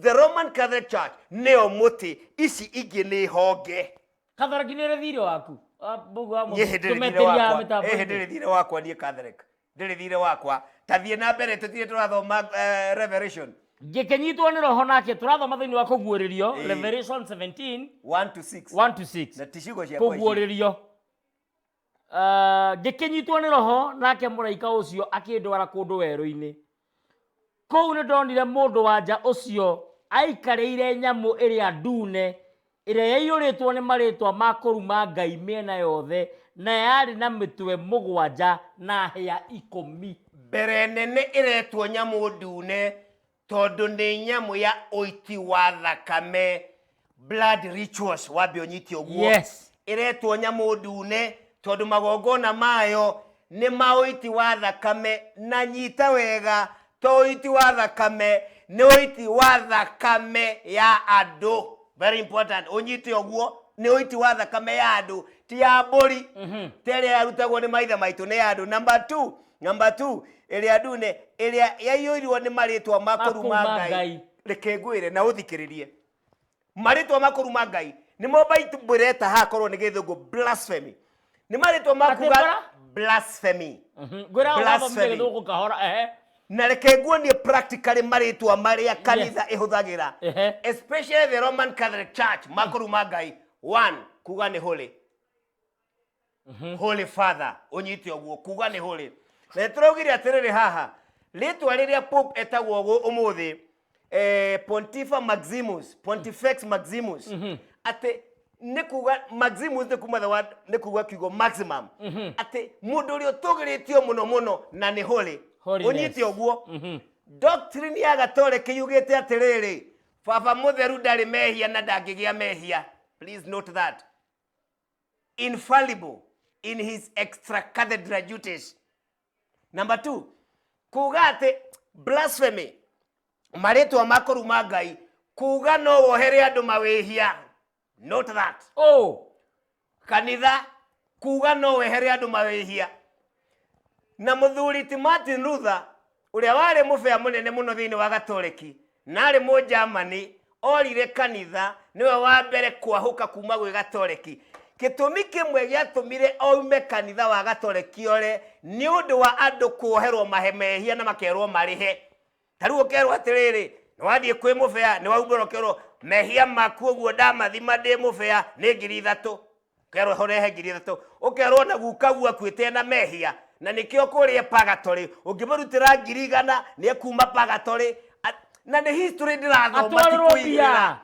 S1: the roman catholic church nĩyo mũtĩ ici ingĩ nĩ honge kathoraki nä rä thirä waku Ah, mbũgu wa niĩ hĩndĩ mũndũ rĩ thirĩ tũmeteria wakwa mĩtambo ĩ hĩndĩ rĩ thirĩ wakwa niĩ catholic ndĩrĩ thirĩ wakwa tathiĩ na mbere tũtire tũrathoma eh, revelation ngä kä nyitwo nä roho nake tå rathoma thä inä wa kå guå rä rio Ĩĩ. revelation 17 1 to 6 1 to 6 na ticigo ciakwa kå ici. guå rä rio Ah, ngĩkĩnyitwo nĩ roho nake mũraika ũcio akĩndwara kũndũ werũ-inĩ kũu nĩ ndonire mũndũ wa nja ũcio aikarĩire nyamũ ĩrĩa ndune ĩrĩa yaiyũrĩtwo nĩ marĩtwa ma kũruma ngai mĩena yothe na yarĩ na mĩtwe mũgwanja na hĩa ikũmi mbere nene ĩretwo nyamũ ndune tondũ nĩ nyamũ ya ũiti wa thakame blood rituals wambe ũnyite ũguo Yes. ĩretwo nyamũ ndune tondũ magongona mayo nĩ ma ũiti wa thakame na nyita wega to ũiti wa thakame nĩ ũiti wa thakame ya andũ very important ũnyite ũguo nĩ ũiti wa thakame ya andũ ti ya mbũri terĩa yarutagwo nĩ maithe maitũ nĩ ya andũ number two namba 2 ĩrĩa ndune ĩrĩa yaiyũirwo nĩ marĩtwa ma kũruma Makũruma ngai Ngai. reke ngwĩre na ũthikĩrĩrie marĩtwa ma kũruma ngai nĩmo baitũmbũreta hakorwo nĩ gĩthũngũ blasphemy nĩ marĩtwa ma Atĩ kuga bara? blasphemy ngwĩra Blasphemy. ũgathomire gĩthũngũ kahora ehe na reke nguonie practically marĩtwa marĩa kanitha ĩhũthagĩra Ehe. especially the roman catholic church makũruma ngai one kuga nĩ holy holy father unyite uguo kuga ni holy na turaugire atiriri haha ritwa riria pope etagwo gu umuthi eh, pontifa maximus pontifex maximus ati ni kuga maximus ni kuma the word ni kuga kiugo maximum ati mundu uria utugiritio muno muno na ni holy Holiness. unyite uguo doctrine ya gatoreki yugite atiriri baba mutheru ndarĩ mehia na ndangĩgĩa mehia please note that infallible in his extra cathedral duties number two kuga atĩ blasphemy marĩtwa ma kũruma ngai kuga no wohere andũ mawĩhia note that oh kanitha kuga no wehere andũ mawĩhia na mũthuri ti martin luther ũrĩa warĩ mũbĩa mũnene mũno thĩinĩ wa gatoreki na arĩ mũnjamani orire kanitha nĩwe wa mbere kwahũka kuma gwĩ gatoreki gĩtũmi kĩmwe gĩatũmire oume kanitha wa gatoreki ore nĩ ũndũ wa andũ kuoherwo mahe mehia na makerwo marĩhe ta rĩu ũkerwo atĩrĩrĩ nĩ wathiĩ kwĩ mũbĩa nĩ waumbũra ũkerwo mehia maku ũguo ndamathima ndĩ mũbĩa nĩ ngiri ithatũ ũkerwo horehe ngiri ithatũ ũkerwo na guka guo akuĩte na mehia na nĩkĩo kũrĩa pagatorĩ ũngĩmũrutĩra ngiri igana nĩ ekuma pagatorĩ na nĩ history ndĩrathoma ti atwarĩrwo kũigĩrĩra mbia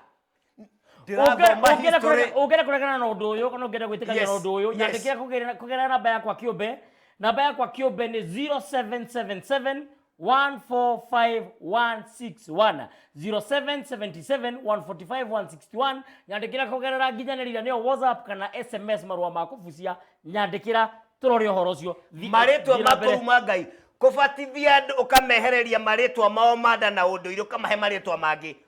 S1: ũngĩenda kũregana na ũndũ ũyũ kana ũngĩenda gwĩtĩkania na ũndũ ũyũ nyandĩkĩra kũgerera namba yakwa kĩũmbe namba yakwa kĩũmbe nĩ 0777 145161 0777 145 nyandĩkĩra kũgerera nginyanĩrĩra nĩyo whatsapp kana sms marũa ma kũbucia nyandĩkĩra tũrore ũhoro ũcio marĩtwa makũu ma ngai kũbatithia andũ ũkamehereria marĩtwa mao manda na ũndũire ũkamahe marĩtwa mangĩ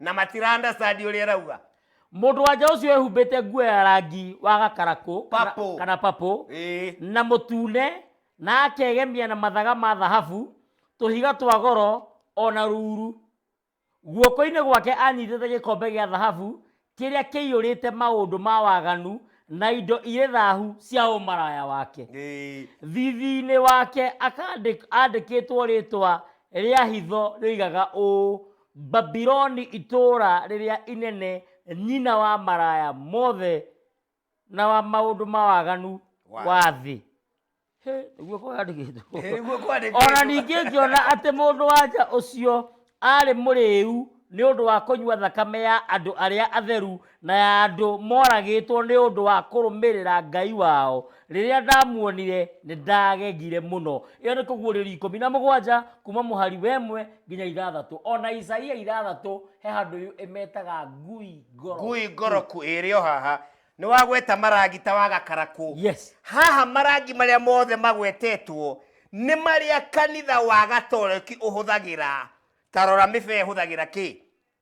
S1: na matira understand ũrĩa ĩrauga mũndũ wanja ũcio ehumbĩte nguo ya rangi wa gakarakũ kana- Purple. kana papũ Ĩĩ. na mũtune na akegemia na mathaga ma thahabu tũhiga twa goro o na ruru guoko-inĩ gwake anyitĩte gĩkombe gĩa thahabu kĩrĩa kĩiyũrĩte maũndũ ma waganu na indo irĩ thahu cia ũmaraya wake Ĩĩ. thithi-inĩ wake akandĩ- andĩkĩtwo rĩtwa rĩa hitho rĩoigaga ũũ Babiloni itũũra rĩrĩa inene, nyina wa maraya mothe na wa maũndũ ma waganu Wa wa thĩ. Hĩ, Nĩguo kwandĩkĩtwo. Ĩ, nĩguo kwandĩkĩtwo. O na ningĩ ngĩona atĩ mũndũ-wa-nja ũcio aarĩ mũrĩĩu nĩ ũndũ wa kũnyua thakame ya andũ arĩa atheru na ya andũ moragĩtwo nĩ ũndũ wa kũrũmĩrĩra Ngai wao. Rĩrĩa ndamuonire, nĩ ndagegire mũno. Ĩyo nĩ Kũguũrĩrio ikũmi na mũgwanja, kuuma mũhari wa ĩmwe nginya ithathatũ. O na Isaia ithathatũ he handũ ĩyo ĩmetaga ngui ngoroku. Ngui ngoroku ĩrĩ o haha. Nĩ wagweta marangita wa gakarakũ. Yes. Haha marangi marĩa mothe magwetetwo nĩ marĩa kanitha wa Gatoreki ũhũthagĩra. Ta rora mĩbee ĩhũthagĩra kĩ?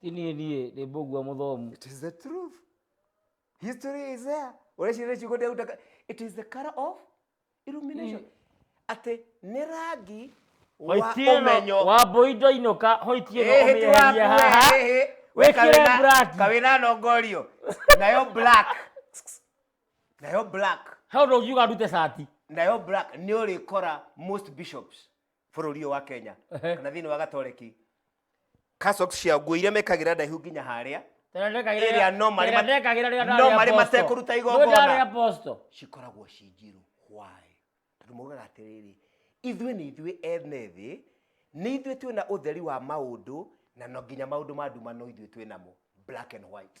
S1: ti niĩ ndiĩ nĩ mbũgua mũthomu It is the truth. History is there. Ũreciria nĩ ciugo ndĩraruta ka- It is the color of illumination. Atĩ nĩ rangi wa Hoitieno ũmenyo. wa mbũi ndoinũka hoitieno Ĩhĩ ti waku, ũmĩeheria haha ĩhĩ, ĩhĩ. We wĩkĩre kawĩna- braki kawĩna nongorio nayo black nayo black he ũndũ ũngiuga ndute cati nayo black nĩ ũrĩkora most bishops bũrũri ũyũ wa kenya Ehe. kana thĩinĩ wa gatoreki Cassock cia nguo iria mekagĩra ndaihu nginya harĩa ĩrĩa no marĩ ma- no marĩ matekũruta igongona aposto cikoragwo ci njirũ why tondũ maugaga atĩrĩrĩ ithuĩ nĩ ithuĩ ene thĩ nĩ ithuĩ twĩ na ũtheri wa maũndũ na no nginya maũndũ ma nduma no ithuĩ twĩ namo black and white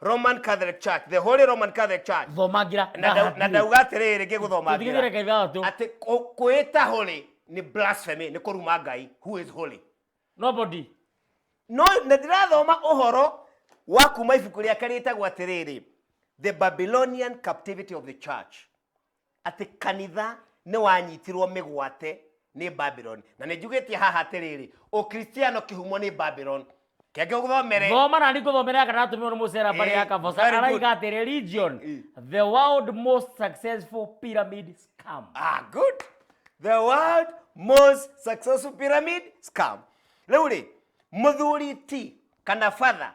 S1: roman catholic church the holy roman catholic church thomangira na ndau- na ndauga atĩrĩrĩ rĩngĩ gũthoma Tigĩrĩra ngira. kaitha watũ. atĩ kũ- kwĩĩta holy nĩ blasphemy nĩ kũruma ngai who is holy nobody no na ndĩrathoma ũhoro wa kuma ibuku rĩake rĩtagwo atĩrĩrĩ the babylonian captivity of the church atĩ kanitha nĩ wanyitirwo mĩgwate nĩ babylon na nĩ njugĩtie haha atĩrĩrĩ ũkristiano kĩhumo nĩ babylon kenge ũthomere thoma na nĩngũthomera kana atũmirwo nĩ mũcera mbarĩ ya Eh, kaboca very good. araiga atĩ religion Eh. the world most successful pyramid scam ah, good the world most successful pyramid scam rĩu rĩ mũthuri ti kana father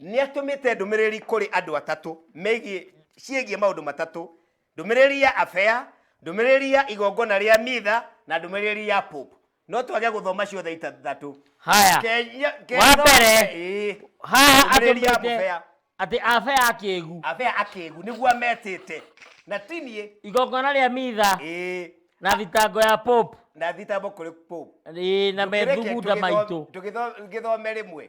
S1: nĩ atũmĩte ndũmĩrĩri kũrĩ andũ atatũ megiĩ ciĩgiĩ maũndũ matatũ ndũmĩrĩri ya afea ndũmĩrĩri ya igongona rĩa mitha na ndũmĩrĩri ya pope no twage gũthoma ciothe itathatũ haya Kenya- Kenya- Wa mbere, Ĩĩ. haha Ndũmĩrĩri ya atũmĩte mũbea. atĩ abe ya kĩgu abea akĩgu nĩguo ametĩte na tiniĩ igongona rĩa mitha ĩĩ na thitango ya pope na thitambo kũrĩ pope ĩĩ na methugunda maitũ tũgĩthome rĩmwe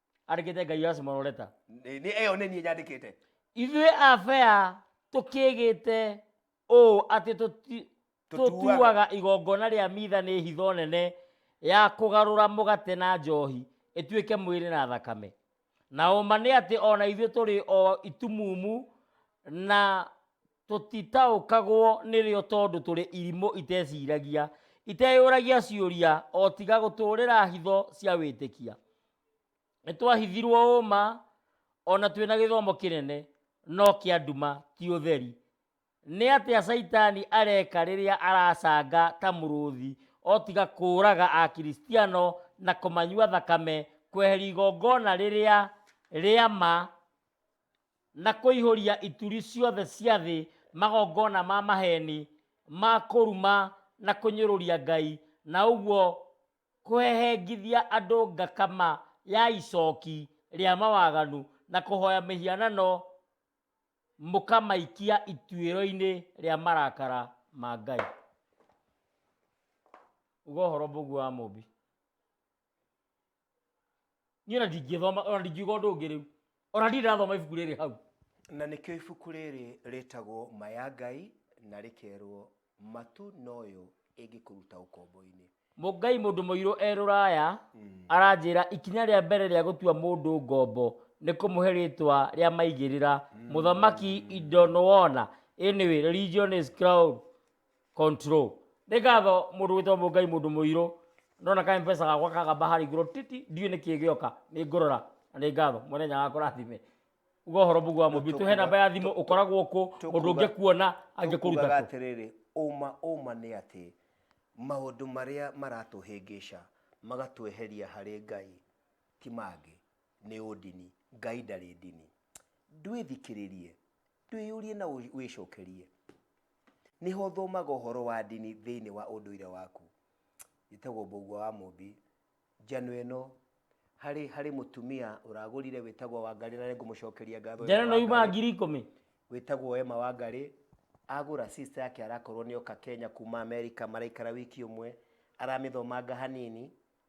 S1: arigite ngai wa simororeta Nĩ- nĩ ĩyo nĩ niĩ nyandĩkĩte ithuĩ abea tũkĩgĩte ũũ atĩ tũti- Tũtuaga. tũtuaga igongona rĩa mitha nĩ hitho nene ya kũgarũra mũgate na njohi ĩtuĩke mwĩrĩ na thakame na ũma nĩ atĩ ona ithuĩ tũrĩ o itumumu na Tũtitaũkagwo nĩrĩo tondũ tũrĩ irimũ iteciragia, iteyũragia ciũria, o tiga gũtũũrĩra hitho cia wĩtĩkia. Nĩ twahithirwo ũũma, o na twĩna gĩthomo kĩnene, no kĩa nduma, ti ũtheri. Nĩ atĩa Caitani areka rĩrĩa aracanga ta mũrũthi, o tiga kũũraga Akristiano na kũmanyua thakame, kweheria igongona rĩrĩa rĩa ma, na kũihũria ituri ciothe cia thĩ magongona ma maheeni ma kũruma na kũnyũrũria Ngai, na ũguo kũhehengithia andũ ngakama ya icooki rĩa mawaganu, na kũhooya mĩhianano mũkamaikia ituĩro-inĩ rĩa marakara ma Ngai. Uga ũhoro Mũũmbi wa Mũũmbi. niä ona ndingäthoma ona ndingiuga å ndå å ngä rä u ona ndirä rathoma ibuku rä rä hau na nĩkĩo ibuku rĩrĩ rĩtagwo maya ngai na rĩkerwo matu noyo ĩngĩkũruta ũkombo-inĩ mũngai mũndũ mũirũ e rũraya aranjĩra ikinya rĩa mbere rĩa gũtua mũndũ ngombo nĩ kũmũhe rĩtwa rĩa maigĩrĩra mũthamaki indo nĩwona anyway religion is crown control nä ngatho må ndå wä twa må ngai må ndå må irå nona ka mpesa gakwa kagamba harä igå titi ndiå nä kä gä oka nä ngå rora na nä ngatho mwene nyaga kå rathime uga å horo må guo wa må mbi tå he namba ya thimå å koragwo kå må ndå å Tũkuga- ngä kuona angä kå ruta tũkugaga kũ atĩrĩrĩ ũma ũma nĩ atĩ maũndũ marĩa maratũhĩngĩca magatweheria harĩ ngai ti mangĩ nĩ ũndini ngai ndarĩ ndini ndwĩthikĩrĩrie Twĩyũrie na wĩcokerie. Nĩ ha ũthomaga ũhoro wa ndini thĩinĩ wa ũndũire waku? Njĩtagwo Mbũgua wa Mũmbi. Njano ĩno, harĩ harĩ mũtumia ũragũrire wĩtagwo Wangarĩ na nĩngũmũcokeria ngatho Njano ĩno yumaga Wangarĩ. ngiri ikũmi. Wĩtagwo Emma Wangarĩ, agũra sister yake arakorwo nĩoka Kenya kuma America maraikara wiki ũmwe, aramĩthomanga hanini,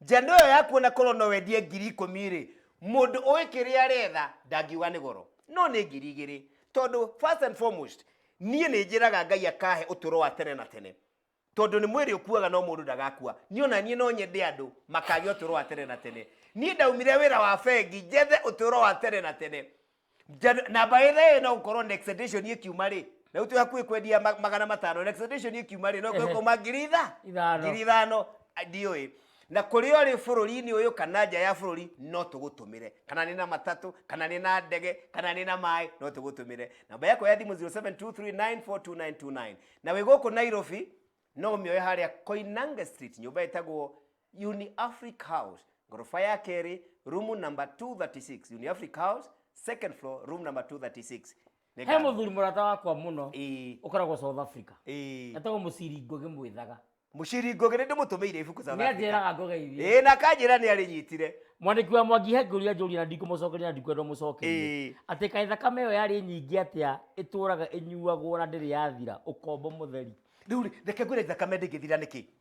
S1: njano ĩyo yaku ona korwo no wendie ngiri ikũmi rĩ mũndũ ũĩ kĩrĩa aretha ndangiuga nĩ goro no nĩ ngiri igĩrĩ tondũ first and foremost niĩ nĩ njĩraga ngai akahe ũtũro wa tene na tene tondũ nĩ mwĩrĩ ũkuaga no mũndũ ndagakua niĩ ona niĩ no nyende andũ makagĩa ũtũro wa tene na tene niĩ ndaumire wĩra wa bengi njethe ũtũro wa tene na tene Janu- na by the way no gũkorwo next edition ĩkiuma rĩ na rĩu twĩ hakuhĩ kwendia ma- magana matano next edition ĩkiuma rĩ no Ehe. gũkauma ngiri itha Ithano. ngiri ithano a- ndiũĩ na kũrĩa ũrĩ bũrũri-inĩ ũyũ kana nja ya bũrũri no tũgũtũmĩre kana nĩ na matatũ kana nĩ na ndege kana nĩ na maĩ no tũgũtũmĩre namba yakwa ya thimũ 0723942929 na wĩ gũkũ nairobi no ũmĩoe harĩa koinange street nyũmba ĩtagwo Uniafric House ngorofa ya kerĩ rumu number 236 Uniafric House second floor room number 236 Nĩ he ngatho. mũthuri mũrata wakwa mũno Ĩĩ, ũkoragwo south africa ĩĩ. etagwo mũciri ngũgĩ mwĩthaga mũciri ngũgĩ nĩ ndĩmũtũmĩire ibuku South nĩ Africa. anjĩraga ngogeithie ĩĩ na kanjĩra nĩ arĩnyitire mwandĩki wa mwangi he ngũria njũria na ndikũmũcokeria na ndikwenda mũcokerie Ĩĩ. atĩ kaĩ thakame ĩyo yarĩ nyingĩ atĩa ĩtũraga ĩnyuagwo na ndĩrĩ yathira ũkombo mũtheri rĩu rĩ, reke ngwĩre thakame ndĩngĩthira nĩkĩ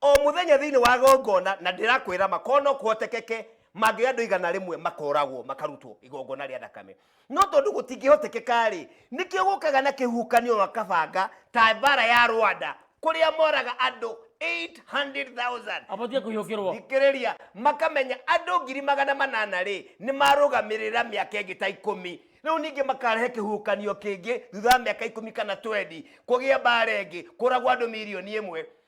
S1: O mũthenya thĩinĩ wa gongona, na ndĩrakwĩra ma, korwo no kũhotekeke, mangĩgĩa andũ igana rĩmwe makoragwo, makarutwo igongona rĩa thakame. No tondũ gũtingĩhotekeka-rĩ, nĩkĩo gũkaga na kĩhuhũkanio na kabanga, ta mbaara ya Rwanda, kũrĩa moraga andũ 800,000. Abatiĩ kũhiũkĩrwo. Thikĩrĩria, makamenya andũ ngiri magana manana-rĩ, nĩmarũgamĩrĩra mĩaka ĩngĩ ta ikũmi. Rĩu ningĩ makarehe kĩhuhũkanio kĩngĩ thutha wa mĩaka ikũmi kana twendi, kũgĩe mbaara ĩngĩ, kũũragwo andũ mirioni ĩmwe.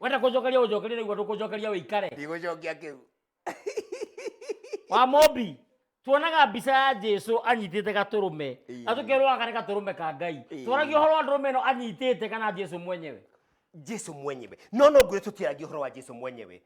S1: wenda kũnjokeria ũnjokerie naigua ndũkũnjokeria wĩikare ndigũcokia kĩu wa mombi tuonaga mbica ya jesu anyitĩte gatũrũme Ĩĩ. na tũkerwo aka nĩ gatũrũme ka ngai Ĩĩ. twaragio ũhoro wa ndũrũme ĩno anyitĩte kana jesu mwenyewe jesu mwenyewe no no ngwĩre tũtiaragia ũhoro wa jesu mwenyewe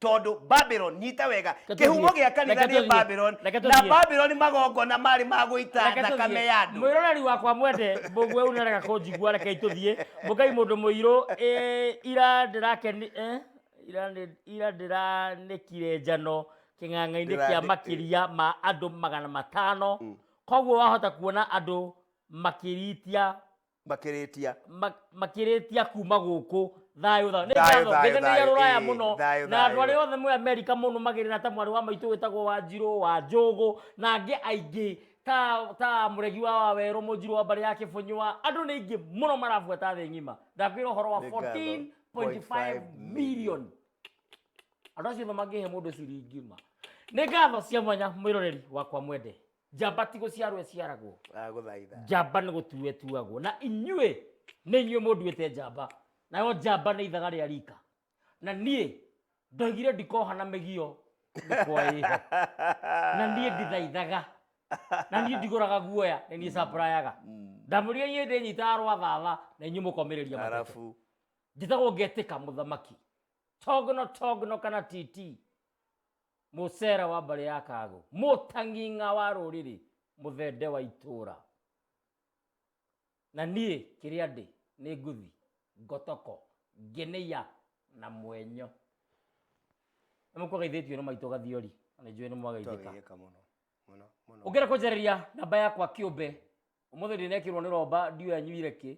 S1: tondũ babylon nyita wega Reke kä humo tũthiĩ. gä a kanitha Reke nä tũthiĩ. babylon Reke na tũthiĩ. babylon magongona marä ma gå ita Reke thakame tũthiĩ. ya andå mwĩroreri wakwa mwende mbũguo ũyũ nĩarega kũnjigua rekei tũthiĩ mũkai mũndũ mũirũ eh, ira ndĩrakeni eh, ira nĩ- ira ndĩranĩkire njano kĩng'ang'a-inĩ kĩa Ndĩrandĩ- makĩria ma andũ magana matano koguo wahota kuona andũ makĩritia makĩrĩtia ma- makĩrĩtia kuma gũkũ thayũ thayũ Thayũ, thayũ, nĩngathogeithania thayũ, rũraya ĩĩ, mũno thayũ, na andũ thayũ. arĩa othe mwĩ amerika mũno magĩrĩra ta mwarĩ wa maitũ wĩtagwo wa njirũ wa njũgũ na angĩ aingĩ ta ta mũregi wa wawerũ mũnjirũ wa mbarĩ ya kĩbũnyũa andũ nĩ aingĩ mũno marabuata thĩ ng'ima ndakwĩra ũhoro wa Nĩ ngatho. 14.5 million andå acio othe mangĩhe må ndå ciringi ma nä ngatho cia mwanya mwä roreri wakwa mwende njamba ti gũciarwo ĩciaragwo agũthaitha njamba nĩ gũtuo ĩtuagwo na inyuĩ nĩ inyuĩ mũnduĩte njamba nayo njamba nĩ ithaga rĩa rika na niĩ ndoigire ndikoha na mĩgio ndikwa ĩho na niĩ ndithaithaga na niĩ ndigũraga guoya nĩ niĩ caprayaga ndamũria inyuĩ ndĩnyitaga rwathava na inyuĩ mũkomĩrĩria matete arabu njĩtagwo ngetĩka mũthamaki togno togno kana titi Mũcera wa mbarĩ ya Kagũ. Mũtang'ing'a wa rũrĩrĩ. Mũthende wa itũra. Na niĩ kĩrĩa ndĩ nĩ ngũthi ngotoko ngenĩia na mwenyo. Nĩ mũkuaga ithĩtio nĩ maitũ gathiori. Na nĩ njũĩ nĩ mwagaithĩka. Ũngĩenda kũnjarĩria namba yakwa kĩũmbe. Ũmũthĩ ndinekĩrwo nĩ romba ndiũĩ anyuire kĩ.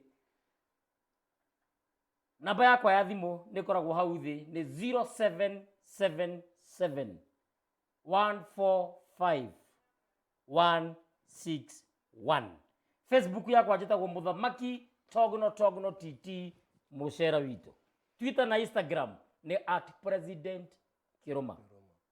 S1: namba yakwa ya thimũ nĩ ĩkoragwo hau thĩ nĩ 0777 145 161 facebook yakwa njĩtagwo mũthamaki togno togno tt mũcera witũ twitter na instagram nĩ at president kĩrũma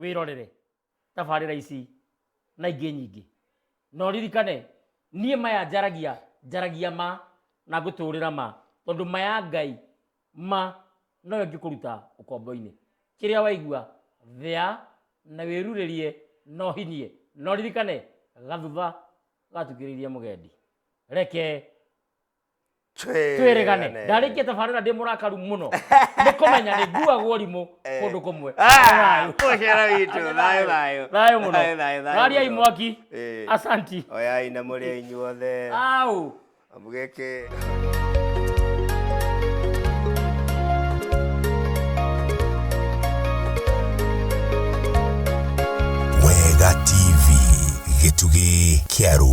S1: wĩrorere tabarĩra ici na ingĩ nyingĩ na ũririkane niĩ maya njaragia njaragia ma na ngũtũrĩra ma tondũ maya ngai ma noyo ngĩkũruta ũkombo-inĩ kĩrĩa waigua thea na wĩrurĩrie na ũhinyie na ũririkane gathutha gatukĩrĩirie mũgendi reke tweregane ndarä tä barä ra ndä må rakaru må no nä kå menya nä nguagwo rimå kå ndå kå mwe Mũcera witũ, thayũ, thayũ. thayå må Thayũ, thayũ, no thayũ rariai mũno. mwaki Ĩĩ. asanti oyai na mũrĩa inyuothe au mũgĩkĩ